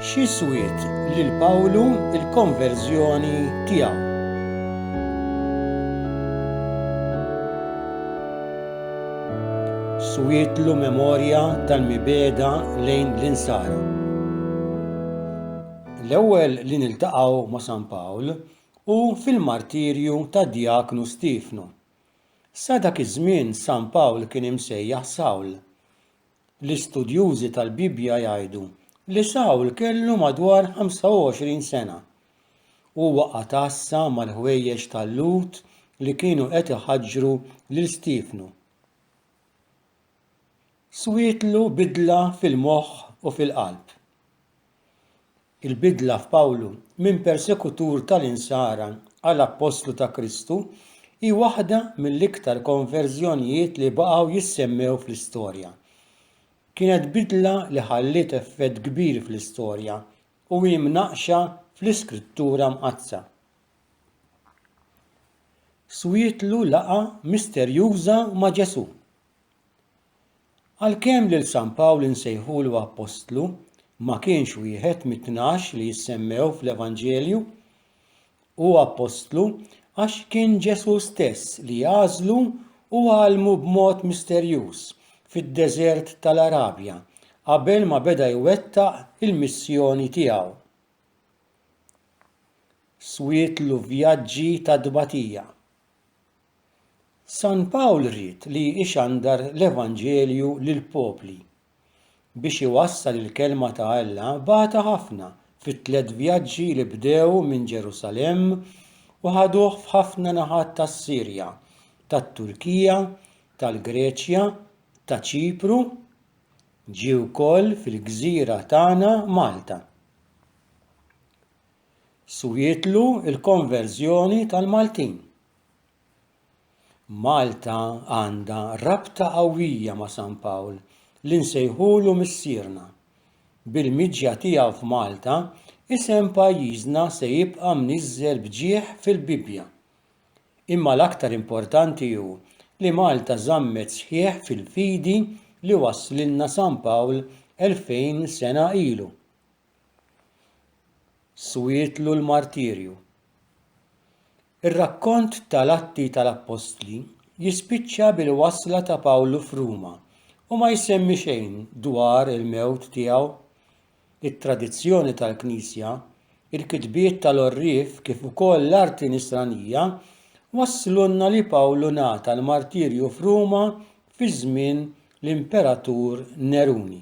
Xi swiet lil Pawlu l-konverżjoni tiegħu? Swietlu memorja tal-mibegħda lejn l-insara. L-ewwel li niltaqgħu ma' San Pawl hu fil-martirju tad-djaknu Stiefnu. Sa dak iż-żmien San Pawl kien imsejjaħ Sawl. L-istudjużi tal-Bibbja jgħidu li Sawl kellu madwar 25 sena. Huwa għatassa mal-ħwejjeġ tal-Lhud li kienu qed iħaġġru lil Stiefnu. Swietlu bidla fil-moħħ u fil-qalb. Il-bidla f'Pawlu minn persekutur tal-Insara għal appostlu ta' Kristu hi waħda mill-iktar konverżjonijiet li baqgħu jissemmew fl-istorja. Kienet bidla li ħalliet effett kbir fl-istorja u hi mnaqqxa fl-Iskrittura Mqaddsa. Swietlu laqgħa misterjuża ma' Ġesù. Għalkemm lil San Pawl insejħulu appostlu, ma kienx wieħed mit-tnax li jissemmew fl-Evanġelju. Hu appostlu għax kien Ġesù stess li għażlu u għallmu b'mod misterjuż fid-deżert tal-Arabja qabel ma beda jwettaq il-missjoni tiegħu. Swietlu vjaġġi ta' tbatija. San Pawl ried li ixandar l-Evanġelju lill-popli. Biex iwassal il-Kelma ta' Alla bagħatha ħafna fit-tliet vjaġġi li bdew minn Ġerusalemm u ħaduh f'ħafna naħat tas-Sirja, tat-Turkija, tal-Greċja, ta' Ċipru, ġie wkoll fil-gżira tagħna Malta. Swietlu l-konverżjoni tal-Maltin. Malta għandha rabta qawwija ma' San Pawl li nsejħulu missierna. Bil-miġja tiegħu f'Malta, isem pajjiżna se jibqa' mniżżel b'ġieħ fil-Bibbja. Imma l-aktar importanti hu li Malta żammet sħiħ fil-fidi li wasslilna San Pawl elfejn sena ilu. Swietlu l-martirju. Ir-rakkont ta' l-Atti ta' l-Appostli jispiċċa bil-wasla ta' Pawlu f'Ruma u ma jsemmi xejn dwar il-mewt tiegħu. It-tradizzjoni tal-Knisja, il-kitbiet ta' l-għorrief kif ukoll l-arti Nisranija wasslulna li Pawlu ngħata l-martirju f'Ruma fi żmien l-Imperatur Neruni.